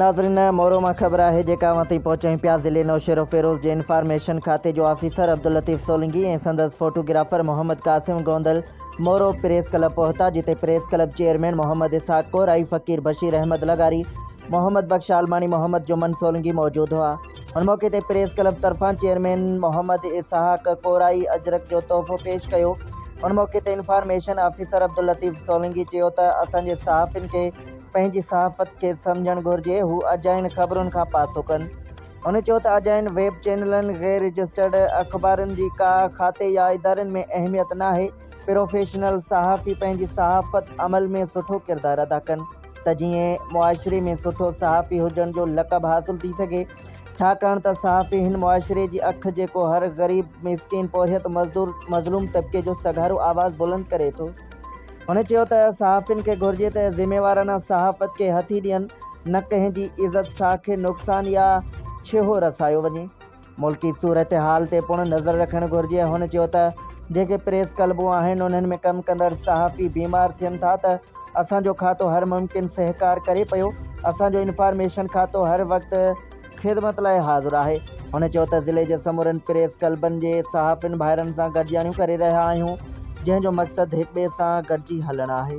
ناظرين مورو مان خبر آهي جيڪا اوهان تائين پهچائين پيا ضلعي نوشهروفيروز جي انفارميشن کاتي جو آفيسر عبداللطيف سولنگي ۽ سندس photographer Muhammad Qasim Gondal Moro press club پهتا جتي press club chairman Muhammad Ishaq Korai Faqir Bashir Ahmed لغاري محمد بخش عالماڻي محمد جمن سولنگي موجود هئا. ان موقعي تي پريس ڪلب طرفان چيئرمين محمد اسحاق ڪورائي اجرڪ جو تحفو پيش ڪيو. ان موقعي تي انفارميشن آفيسر عبداللطيف سولنگي چيو ته اسان جي صحافين کي پنهنجي صحافت کي سمجهڻ گهرجي هو اجاين خبرن کان پاسو ڪن. هن چيو ته اجاين ويب چينلن، غير رجسٽرڊ اخبارن جي ڪا کاتي يا ادارن ۾ اهميت ناهي، پروفيشنل صحافي پنهنجي صحافت عمل ۾ سٺو ڪردار ادا ڪن. ته جيئن معاشري ۾ سٺو صحافي هجڻ جو لقب حاصل ٿي سگهي ڇاڪاڻ ته صحافي هن معاشري جي اک جيڪو هر غريب مسڪين پورهيت مزدور مظلوم طبقي جو سگهارو آواز بلند ڪري ٿو هن چيو ته صحافين کي گهرجي ته ذميوارانه صحافت کي هٿي ڏين نه ڪنهن جي عزت ساک کي نقصان يا ڇيهو رسايو وڃي. ملڪي صورتحال تي پڻ نظر رکڻ گهرجي، هن چيو ته جيڪي پريس ڪلبون آهن انهن ۾ ڪم ڪندڙ صحافي بيمار ٿين ٿا ته اسان جو کاتو هر ممڪن سهڪار ڪري پيو، اسان جو انفارميشن کاتو هر وقت خدمت لاء حاضر آهي، هن چيو ته ضلعي جي سمورن پريس ڪلبن جي صحافين ڀائرن سان گڏجاڻيون ڪري رهيا آهيون جنهن جو مقصد هڪٻئي سان گڏجي هلڻ آهي.